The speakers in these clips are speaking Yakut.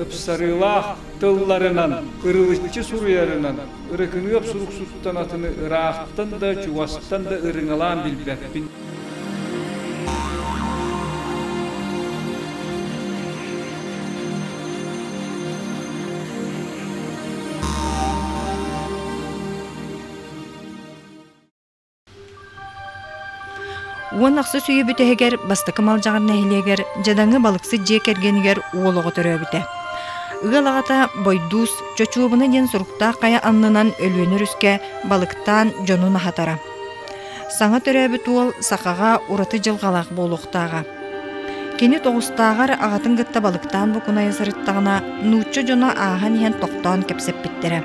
Ыпсарыылаах тылларынан, ырылыччы суруйарынан ырыкыныап суруксуттан атыны ыраахтан да, чугастан да ырыҥалаан билбэппин. Уон ахсыс үйэ бүтэһигэр бастакы Малдьаҕар нэһилиэгэр Дьадаҥы балыксыт дьиэ кэргэнигэр уол оҕо төрөөбүтэ. Ыал аҕата Бойдуус Чочуобуна диэн суруктаах хайа аннынан Өлүөнэ Өрүскэ балыктаан дьонун аһатара. Саҥа төрөөбүт уол сахаҕа ураты дьылҕалаах буолуохтааҕа. Кини тоҕустааҕар аҕатын кытта балыктаан букунайа сырыттаҕына нуучча дьоно ааһан иһэн тохтоон кэпсэппиттэрэ.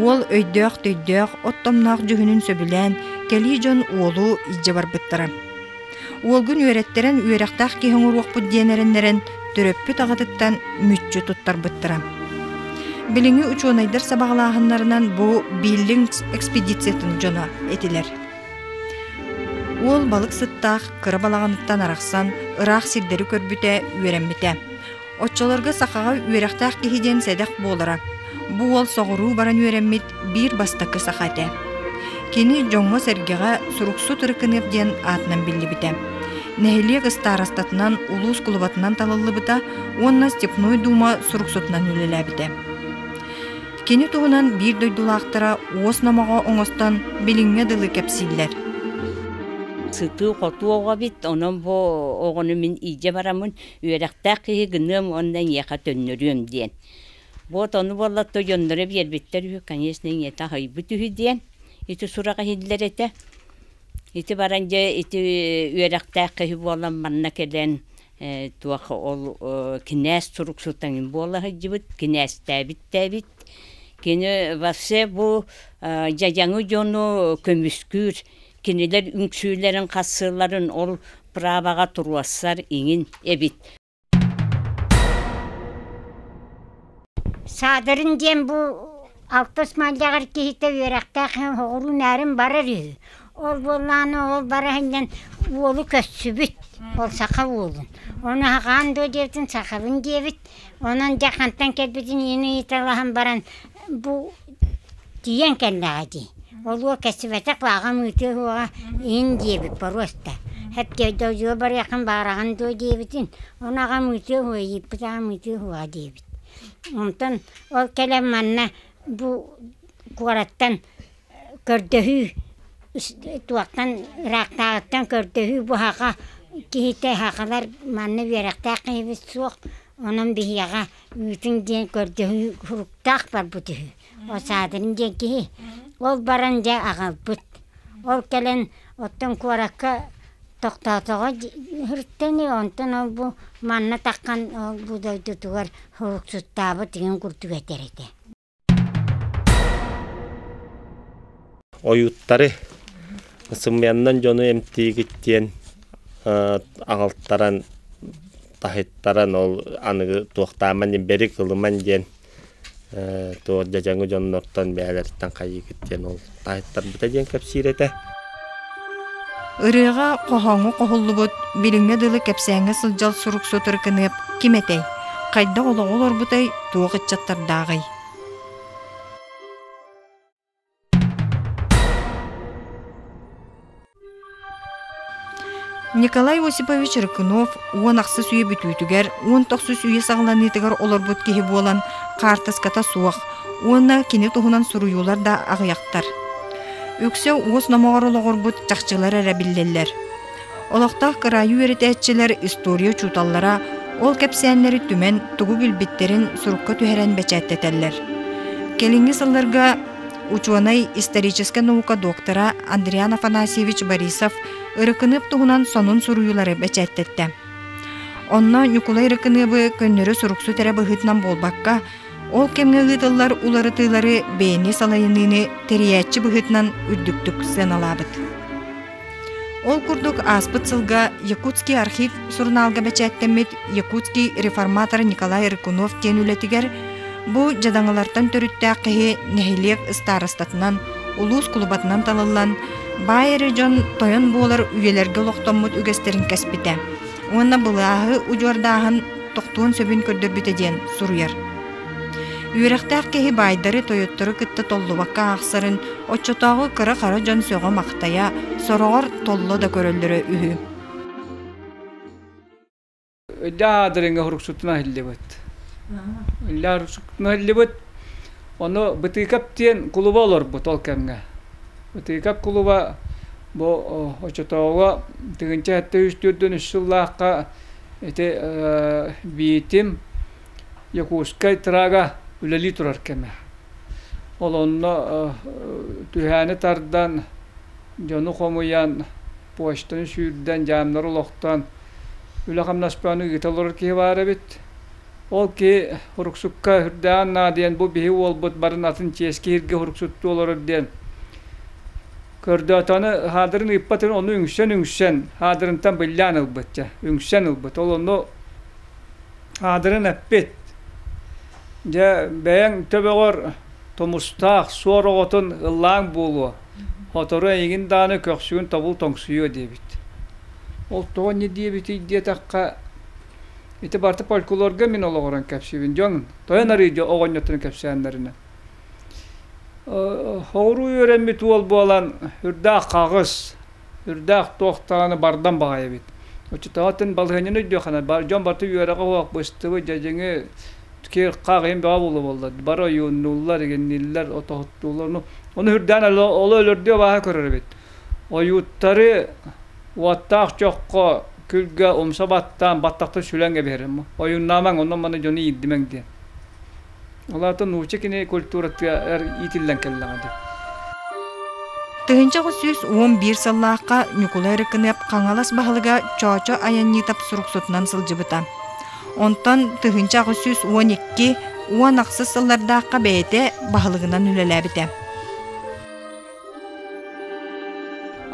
Уол өйдөөх-төйдөөх, оттомноох дьүһүнүн сөбүлээн, кэлии дьон уолу илдьэ барбыттара. Уолгун үөрэттэрэн үөрэхтээх киһи оҥоруохпут диэн эрэннэрэн, төрөппүт аҕатыттан мүччү туттарбыттара. Билиҥҥи учуонайдар сабаҕалааһыннарынан бу Биллингс экспедициятын дьоно этилэр. Уол балык сыттаах кыра балаҕаныттан арахсан, ыраах сирдэри көрбүтэ, үөрэммитэ. Оччолорго сахаҕа үөрэхтээх киһи диэн сэдэх буолара. Бу уол соҕуруу баран үөрэммит биир бастакы саха этэ. Кини дьоҥҥо-сэргэҕэ Суруксут Ырыкыныап диэн аатынан биллибитэ. Нэһилиэк ыстаарастатынан, улуус кулубатынан талыллыбыта уонна Степной Дума суруксутунан үлэлээбитэ. Кини туһунан биир дойдулаахтара уос номоҕо оҥостон билиҥҥэ дылы кэпсииллэр. сытыы хотуоҕа бит онон бу оҕону мин илдьэ бараммын үөрэхтээх киһи гыныам уонна эйиэхэ төннөрүөм диэн. Вот ону буоллаттар дьонноро биэрбиттэр үһү, конечно, ийэтэ аһыйбыт үһү диэн. Ити сурах иһиллэр этэ. Ити баран дьэ ити үөрэхтээх киһи буолан манна кэлэн э, туох ол э, кинээс сурук сутаҥын буола сылдьыбыт, кинээстээбиттээбит. Кини вообще бу э, дьадьаҥы дьону көмүскүүр, Кинилэр үҥсүүлэрин хассыыларын ол праваҕа туруорсар иҥин эбит. Саадырын диэн бу алтыс мальдьаҕар киһитэ үөрэхтээх оҕуруу нээрин барар үһү. Ол буоллааны ол бара иһиннэн уолу көссүбүт. Ол саха уолун. Оны хагаан дуо диэтин сахалын диэбит. Онон дьэ хантан кэлбитин иин ыйыталаһан баран бу тиийэн кэллэҕэ дии. Олуо кэсибэтэх лааҕым ыытыа суоҕа иһин диэбит боруоста. Эпкиэй да удьуор барыаххын баараҕын дуо диэбитин, ону аҕам ыытыа суоҕа ииппит аҕам ыытыа суоҕа диэбит. Онтон ол кэлэн манна бу куораттан көрдөһүү туохтан ыраахтааҕыттан көрдөһүү бу аха киһитэ сахалар манна үөрэхтээх киһибит суох онон биһиэхэ үүтүн диэн көрдөһүү суруктаах барбыт үһү отсаадырын диэн киһи ол баран дьэ аҕалбыт ол кэлэн оттон куоракка тохтоотоҕо сырыттыны онтон ол бу манна таххан ол бу дойдутугар суруксуттаабыт игин курдук этэр этэ Ойууттары сымыйаннан дьону эмтиигиттиэн аҕалтаран таһыттаран ол аныгы туохтааман бэри кылыман диэн туох дьадьаҥы дьоннортон бэйэлэриттэн хайыыгыттиэн ол таайтарбыта диэн кэпсиир этэ. Ырыаҕа хоһооҥу хоһуллубут билиҥҥэ дылы кэпсээҥҥэ сылдьар суруксут ыркыныап ким этэй? Хайдах олоҕу олорбутай, туох ыччаттардааҕый? Николай Осипович Рыкунов уон ахсыс үйэ бүтүүтүгэр уон тохсус үйэ саҕаланыытыгар олорбут киһи буолан хаартыската суох уонна кини туһунан суруйуулар да аҕыйахтар. Үксэ уос номоҕор олоҕурбут чахчылар эрэ биллэллэр. Олохтоох кыраайы үөрэтээччилэр история учууталлара ол кэпсээннэри түмэн тугу билбиттэрин сурукка түһэрэн бэчээттэтэллэр. Кэлиҥҥи сылларга учуонай-историческай наука доктора Андриан Афанасьевич Борисов ырыкыныып туһунан сонун суруйуулары бэчээттэттэ. Онно Ньукулай Ырыкыныыбы көннөрү суруксут эрэ быһыытынан буолбакка, ол кэмҥэ ыытыллар уларытыылары бэйэни салайыныыны тэрийээччи быһыытынан үрдүктүк сыаналаабыт. Ол курдук ааспыт сылга Якутский архив сурунаалга бэчээттэммит Якутский реформатор Николай Рыкунов диэн үлэтигэр бу дьадаҥылартан төрүттээх киһи нэһилиэк ыстаарыстатынан, улуус кулубатынан талыллан, баай эрэ дьон тойон буолар үйэлэргэ олохтоммут үгэстэрин кэспитэ уонна былааһы удьуордааһын тохтуон сөбүн көрдөрбүтэ диэн суруйар. Үөрэхтээх киһи баайдары, тойоттору кытта толлубакка аахсарын, оччотооҕу кыра-хара дьон сөҕө-махтайа, сороҕор толло да көрөллөрө үһү. Өйдөөх аадырыҥҥа хоруксутун аһыллыбыт. Иллэ хоруксутун аһыллыбыт. Ону Бытыыкап диэн кулуба олорбут ол кэмҥэ. Бытыыкап кулуба бу оччотооҕу тыгынча сэттэ үс төрдөн үс сыллаахха ити биитим Якутскай трага үлэлии турар кэмэ. Ол онно түһээни тардан, дьону хомуйан, почтаны сүүрдэн, дьаамнары олохтон үлэ-хамнаспаны ыыта олорор киһи баар эбит. Ол киһи Уруксукка үрдэҕин наадыйан бу биһи уолбут барын атын чиэс киһиргэ уруксуттуу олорор диэн көрдөөтөҕүнэ хаадырын ыыппат ону үҥсэн үҥсэн хаадырынтан биллээн ылбыт дьэ үҥсэн ылбыт ол ону аадырын эппит. Дьэ, бэйэҥ төбөҕөр тумустаах суор оҕотун ыллааҥ буолуо, сотору эйигин даҕаны көхсүгүн тобул тоҥсуйуо диэбит. Ол тоҕо не диэбитий диэтэххэ, ити барыта фольклорга мин олоҕуран кэпсиибин. Дьон тойон арыйдьа оҕонньотторун кэпсээннэринэн. Соҕуруу үөрэммит уол буолан үрдээх хаҕыс, үрдээх туох даҕаны бардан баҕайы эбит. Учууталбытын балаһыанньаны өйдүөххэ дьон барыта үөрэҕи-уһаҕы быстыбыт дьэдьиҥи киэр-хах иһин бөҕө буолуо буолла бары ойууннууллар игиннииллэр отоһуттууллар ону ону үрдээн олох өлөрдүө абааһы көрөр эбит ойууттары уоттаах чоххо күлгэ умса баттаан баттахта сүлэн кэбиһэрим ойууннаамаҥ онно маны дьону иирдимэҥ диэн Ол аата нуучча кини культуратыгар иитиллэн кэллэҕэ дии. Тыһыынча аҕыс сүүс уон биир сыллаахха Ньукулай Рыкыныап Хаҥалас баһылыга Чоочо Айанньытап суруксутунан сылдьыбыта. Онтон тыһыынча аҕыс сүүс уон икки уон ахсыс сыллардаахха бэйэтэ баһылыгынан үлэлээбитэ.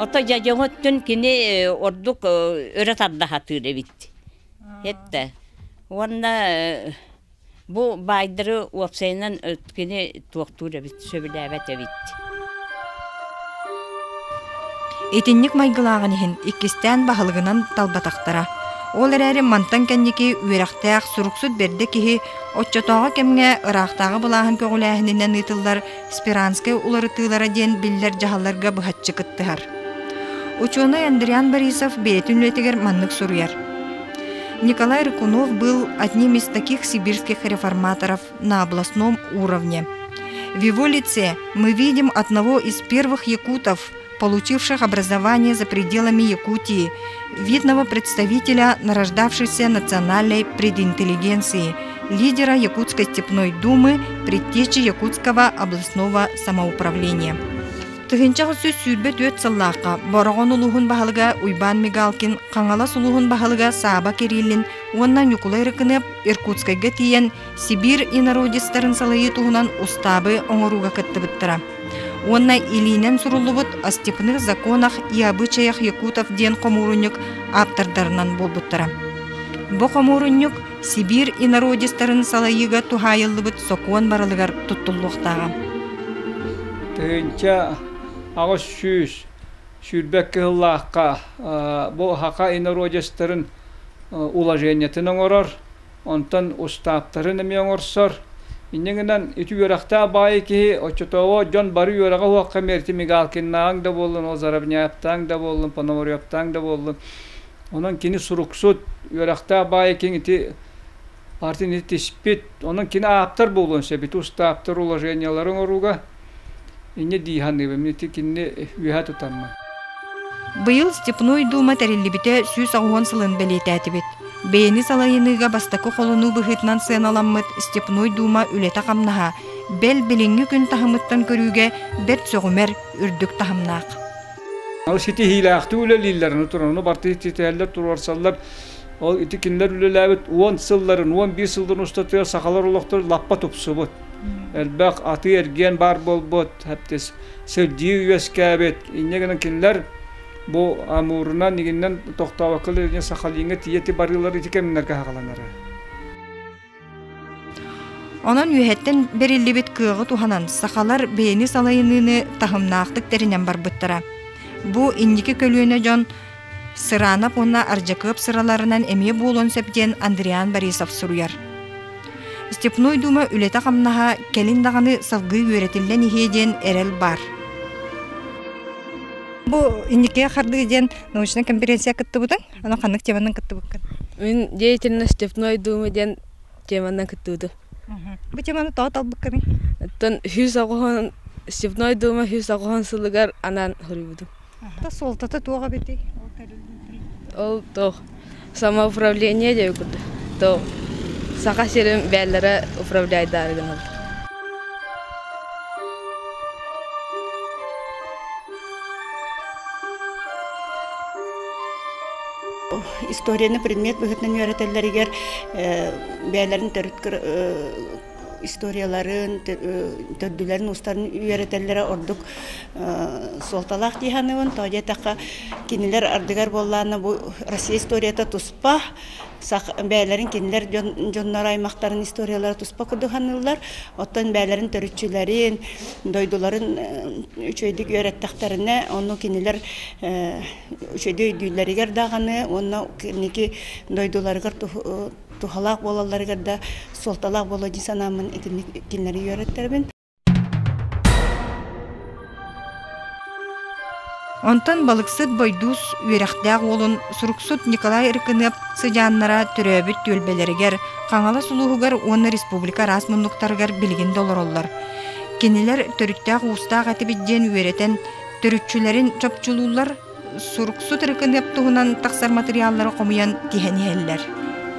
Ото дьадьоҥуттun кини ордук өрө тарда сатыыр эбит. Хетте. Уонна Бу баайдары уопсайынан кини туохтуур эбит, сөбүлээбэт эбит. Итинник майгылааҕын иһин иккистээн баһылыгынан талбатахтара. Ол эрээри мантан кэнники үөрэхтээх, суруксут бэрдэ киһи оччотооҕу кэмҥэ ыраахтааҕы былааһын көҕүлээһининэн ыытыллар Спиранскай уларытыылара диэн биллэр дьаһалларга быһаччы кыттыһар. Учуонай Андриан Борисов бэйэтин үлэтигэр маннык суруйар. Николай Рыкунов был одним из таких сибирских реформаторов на областном уровне. В его лице мы видим одного из первых якутов, получивших образование за пределами Якутии, видного представителя нарождавшейся национальной прединтеллигенции, лидера Якутской степной думы, предтечи Якутского областного самоуправления. Тыһынчах үсүс сүүрбэ түөрт сыллаахха Бороҕон улууһун баһылыга Уйбаан Мигалкин Хаҥалас улууһун баһылыга Сааба Кириллин уонна Ньукулай Рыкыныап Иркутскайга тиийэн Сибиир инородецтарын салайыы туһунан устаабы оҥорууга кыттыбыттара. Уонна илиинэн суруллубут о степных законах и обычаях якутов диэн хомуурунньук ааптардарынан буолбуттара. Бу хомуурунньук Сибиир инородецтарын салайыыга туһаайыллыбыт сокуон барылыгар туттуллуохтааҕа. Тыһынча аҕыс сүүс сүүрбэк кыһыллаахха бу хака инородецтарын уложениетын оҥорор Онтон устааптарын эмиэ оҥорсор. Инньэ гынан, ити үөрэхтээх баайы киһи, оччотооҕу дьон бары үөрэҕи оһуохха миэрти Мигалкиннааҕыҥ да буоллун, Озоровняевтааҥ да буоллун, Пономаревтааҥ да буоллун, онон кини суруксут, үөрэхтээх баайы киһиҥ ити партияны тиспит, онон кини ааптар буолуон сөп. Ити устааптар уложениелары оҥорууга Инньэ дии саныыбын. Ити кинини үөһэ тутаммын. Быйыл Степной Дума тэриллибитэ сүүс оҕуһун сылын бэлиэтээтибит. Бэйэни салайыныыга бастакы холонуу быһыытынан сыаналаммыт Степной Дума үлэтэ-хамнаһа бэл билиҥҥи күн таһымыттан көрүүгэ бэрт сөҕүмэр, үрдүк таһымнаах. Ол ситиһиилээхтик үлэлииллэр, аны туран бартыһы ситиһэллэр, туруорсаллар. Ол ити кинилэр үлэлээбит уон сылларын, уон биир сылларын устатыгар сахалар олохторун лаппа тупсубут. элбэх атыы-эргиэн баар буолбут хэптис сирдии үөскээбит инньэ гынан кинилэр бу амуурунан игиннен тохтообоккыл илине сахалиҥа тиети барыылар ити кэмнерге хагаланара Онон үөһэттэн бериллибит кыаҕы туһанан сахалар бэйэни салайыныыны таһымнаахтык тэринэн барбыттара. Бу инники көлүөнэ дьон Сыранов уонна Ардьакыап сыраларынан эмиэ буолуон сөп диэн Андриан Борисов суруйар. Степной Дума үлэтэ-хамнаһа кэлин даҕаны салгыы үөрэтиллэн иһиэ диэн эрэл баар. Бу инники хардыы диэн научная конференция кыттыбытың, аны ханнык теманан кыттыбыккын? Мин деятельна Степной Думы диэн теманан кыттыбытым. Бу теманы тоҕо талбыккыный? Оттон үһүс оҕоһун Степной Дума үһүс оҕоһун сылыгар анаан хоруйбутум. Да суолтата туох эбитий? Ол тэриллиитин. Ол туох самоуправление диэби курдук. То Саха сирин бээллэрэ управляйдаары гынабыт. историяны предмет быһытынан үөрэтэллэригэр бээлэрин төрүт историяларын, төрдүлэрин устарын үөрэтэллэрэ ордук суолталаах дии саныыбын. Тоҕо диэтэххэ, кинилэр ардыгар буоллаана бу Россия историята туспа, бэйэлэрин кинилэр дьоннор аймактарын историялара туспа курдук саныыллар. Оттон бэйэлэрин төрүччүлэрин, дойдуларын үчүгэйдик үөрэттэхтэринэ, ону кинилэр үчүгэй өйдүүллэригэр даҕаны уонна инники дойдуларыгар туһалаах буолалларыгар да суолталаах буолуо дии санааммын итинник кинилэри үөрэттэрбин Онтон балыксыт Бойдуус үөрэхтээх уолун суруксут Николай Рыкыныап сыдьааннара төрөөбүт түөлбэлэригэр, Хаҥалас улууһугар уонна республика араас муннуктарыгар билигин да олороллор. Кинилэр төрүттээх-уустаах этибит диэн үөрэтэн, төрүччүлэрин чопчулууллар, суруксут реконеп туһунан тахсар материаллары хомуйан тиһэн иһэллэр.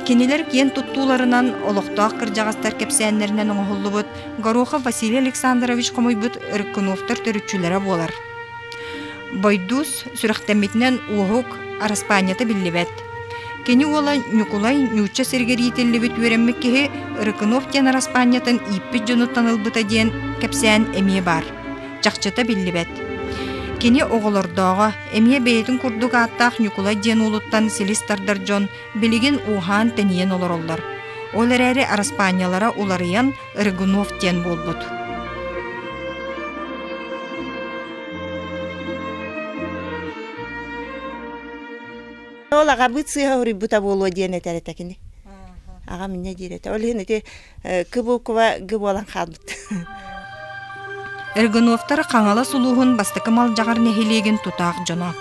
Кинилэр киэн туттууларынан олохтоох кырдьаҕастар кэпсээннэринэн оҥоһуллубут Горохов Василий Александрович хомуйбут Өркуновтар төрүччүлэрэ буолар. Бойдуус сүрэхтэммитинэн уоһук араспаанньата биллибэт. Кини уола Ньукулай ньуучча сиргэ иитиллибит үөрэммит киһи Рыкунов диэн араспаанньатын ииппит дьонуттан ылбыта диэн кэпсээн эмиэ баар. чахчыта биллибэт. Кини оҕолордооҕо, эмиэ бэйэтин курдук ааттаах Ньукулай диэн уолуттан силис тардар дьон билигин ууһаан-тэнийэн олороллор. Ол эрээри араспаанньалара уларыйан Рыгунов диэн буолбут. Ол агабыт сыыха уруйбута буолуо диэн этэр этэ кини. Аҕам инньэ диир этэ. Ол иһин ити кыбукова г буолан хаалбыт Эргуновтар Хаҥалас улууһун бастакы Малдьаҕар нэһилиэгин тутаах дьоно.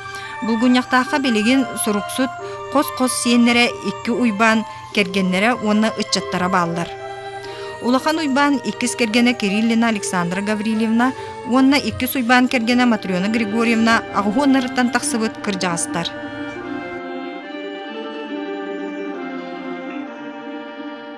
Булгунньахтаахха билигин суруксут хос-хос сиэннэрэ икки уйбаан кэргэннэрэ уонна ыччаттара бааллар. Улахан уйбаан иккис кэргэнэ Кириллина Александра Гаврильевна уонна иккис уйбаан кэргэнэ Матрена Григорьевна аҕуһуоннарыттан тахсыбыт кырдьаҕастар.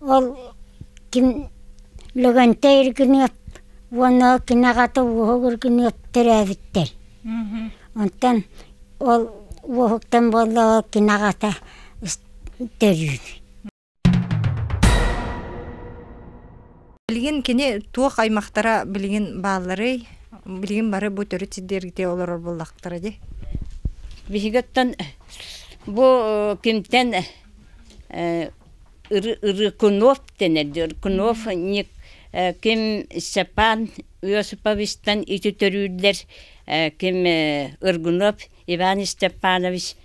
Ол ким Лөгөнтөй Иргиниэп уонна ол кини аҕата Уоһук Иргиниэп төрөөбүттэр. Онтон ол Уоһуктан буоллаҕа кини аҕата төрүүр. Билигин кини туох аймахтара билигин баалларый? Билигин бары бу төрүт сирдэргэ олорор буоллахтара дии. Биһиги оттон бу кимтэн Рыкунов дэнэр Рыкунов-Ник ким Степан Иосиповичтан ити төрүүллэр ким Ргунов Иван Степанович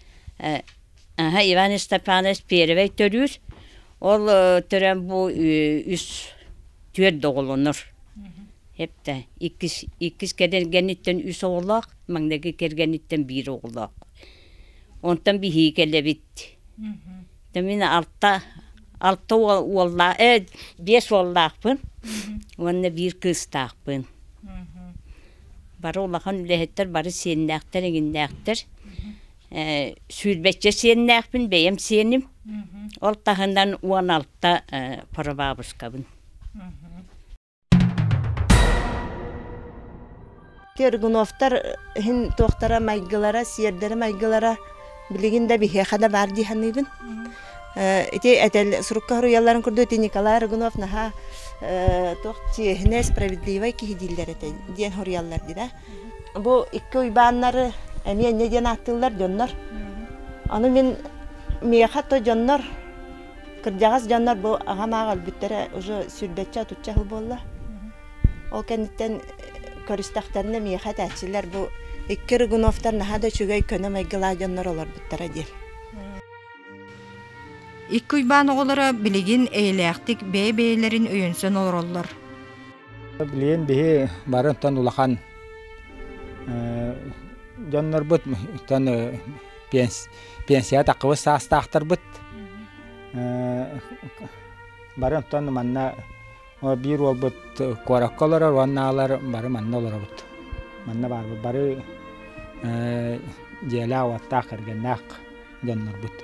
Иван Степанович первэй төрүүр ол төрөөн бу үс түөрт оҕолонор эптэ иккис иккис кэргэниттэн үс оҕолоох маҥнайгы кэргэниттэн биир оҕолоох онтон биһиги кэлэбит да мин алта алта уол уоллаах ээ биэс уоллаахпын уонна биир кыыстаахпын бары улахан үлэһиттэр бары сиэннээхтэр эҥиннээхтэр ээ сүүрбэччэ сиэннээхпин бэйэм сиэним ол таһынан уон алта э поробаабыскабын Тергуновтар иһин туохтара майгылара, сиэрдэрэ-майгылара билигин да биһиэхэ да баар дии саныыбын. Ити этэл сурукка хоруйалларын курдук ити Николай Рыгунов наһаа туох чиэһинэй, справедливай киһи дииллэр этэй диэн хоруйаллар дии да. Бу икки уйбааннары эмиэ инньэ диэн ааттыыллар дьоннор. Аны мин миэхэ то дьоннор Кырдьаҕас дьоннор бу аҕам аҕа өлбүттэрэ уже сүүрбэччэ отучча сыл буолла. Ол кэнниттэн көрүстэхтэринэ миэхэ этээччилэр бу икки Рыгуновтар наһаа да үчүгэй көнө майгылаах дьоннор олорбуттара диэн. Икки Уйбаан оҕолоро билигин эйэлээхтик бэйэ-бэйэлэрин өйөнсөн олороллор. Билигин биһи барынтан улахан дьоннорбут пенс Пенсияҕа таххыбыт саастаахтарбыт бары онтон манна биир уолбут куоракка олорор уонна аалар бары манна олоробут. Манна баарбыт бары дьиэлээх-уоттаах, кэргэннээх дьоннорбут.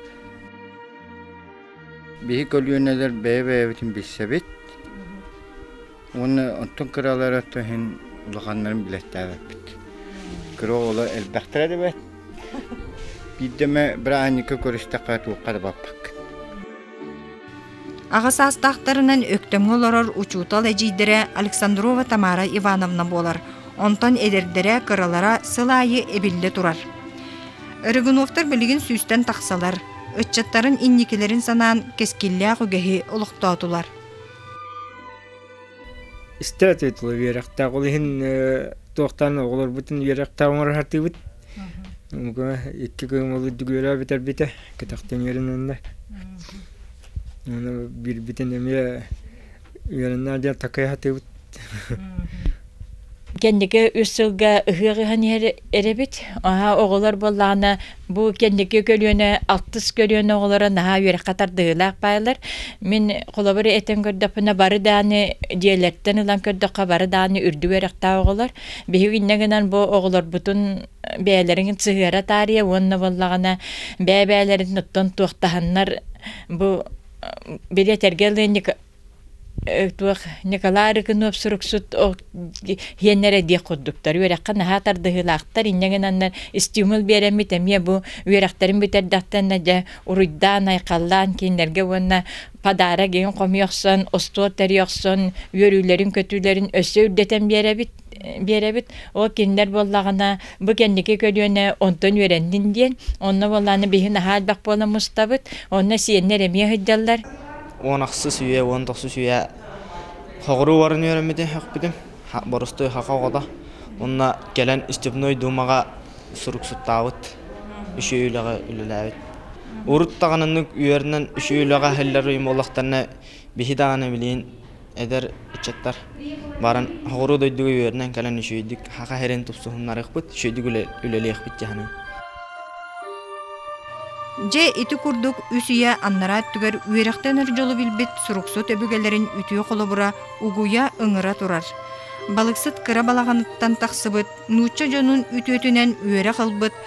Биһи көлүөнэлэр бэйэ-бэйэбитин билсэбит, Уонна оттон кыралары оттон иһин улаханнарын билэттээбэппит. Кыра оҕолор элбэхтэрэ да бэт. Биирдэ эмэ бырааһынньыкка көрүстэххэ туохха да баппаккыт. Аҕа саастаахтарынан Өктөмҥө олорор учуутал эдьиийдэрэ Александрова Тамара Ивановна буолар. Онтон эдэрдэрэ, кыралара сыл аайы эбиллэ турар. Рыгуновтар билигин сүүстэн тахсалар. Ыччаттарын инникилэрин санаан кэскиллээх үгэһи олохтоотулар. Статуэтла үөрэхтээх. Ол иһин туохтан оҕолорбутун үөрэхтээх оҥорсатыыбыт. Муга икки күн ол үрдүгүөрэ бүтэрбитэ, кэтэхтэн үөрэнэннэр. Оны биирбитин эмиэ үөрэннэр диэн такай сатыыбыт. Кэнники үс сылга ыһыах ыһан иһэр эрэбит. Аһа оҕолор буоллаҕына бу кэнники көлүөнэ алтыс көлүөнэ оҕолоро наһаа үөрэххэ тардыһыылаах баалар. Мин холобур этэн көрдөхпүнэ бары даҕаны дьиэлэртэн ылан көрдөххө бары даҕаны үрдүк үөрэхтээх оҕолор. Биһиги иннэ гынан бу оҕолорбутун бэйэлэрин сыһыара таарыйа уонна буоллаҕына бэйэ-бэйэлэрин оттон туохтаһаннар бу били этэргэ ылыанньык туох Николай Рыкунов суруксут иэннэр диэх курдуктар үөрэххэ наһаа тардыһыылаахтар инньэ гынаннар стимул биэрэммит эмиэ бу үөрэхтэрин бүтэрдэхтэнэ дьэ уруйдаан айхаллаан кинилэргэ уонна подарок иһин хомуй охсон остуол тэрий охсон үөрүүлэрин көтүүлэрин өссө үрдэтэн биэрэбит биэрэбит ол кинилэр буоллаҕына бу кэнники көлүөнэ онтон үөрэннин диэн онно буоллааны биһи наһаа элбэх буола мустабыт онно сиэннэр эмиэ сылдьаллар Уон ахсыс үйэ, уон тохсус үйэ хоҕуруу баран үөрэммитим, үөхпүтүм. Борустуй хака оҕото. Уонна кэлэн Степной дуумаҕа суруксуттаабыт, үчүгэй үлэҕэ үлэлээбит. Урут даҕаны үөрэнэн үчүгэй үлэҕэ аһыллар уйум олохторуна биһи даҕаны билигин эдэр ыччаттар баран оҕуруо дойдуга үөрэнэн кэлэн үчүгэйдик саха сирин тупсуһуннарыахпыт үчүгэйдик үлэлиэхпит дьаһанан Дьэ ити курдук үс үйэ аннараа өттүгэр үөрэхтэн өр дьолу билбит суруксут өбүгэлэрин үтүө холобура угуйа ыҥыра турар. Балыксыт кыра балаҕаныттан тахсыбыт нуучча дьонун үтүөтүнэн үөрэх ылбыт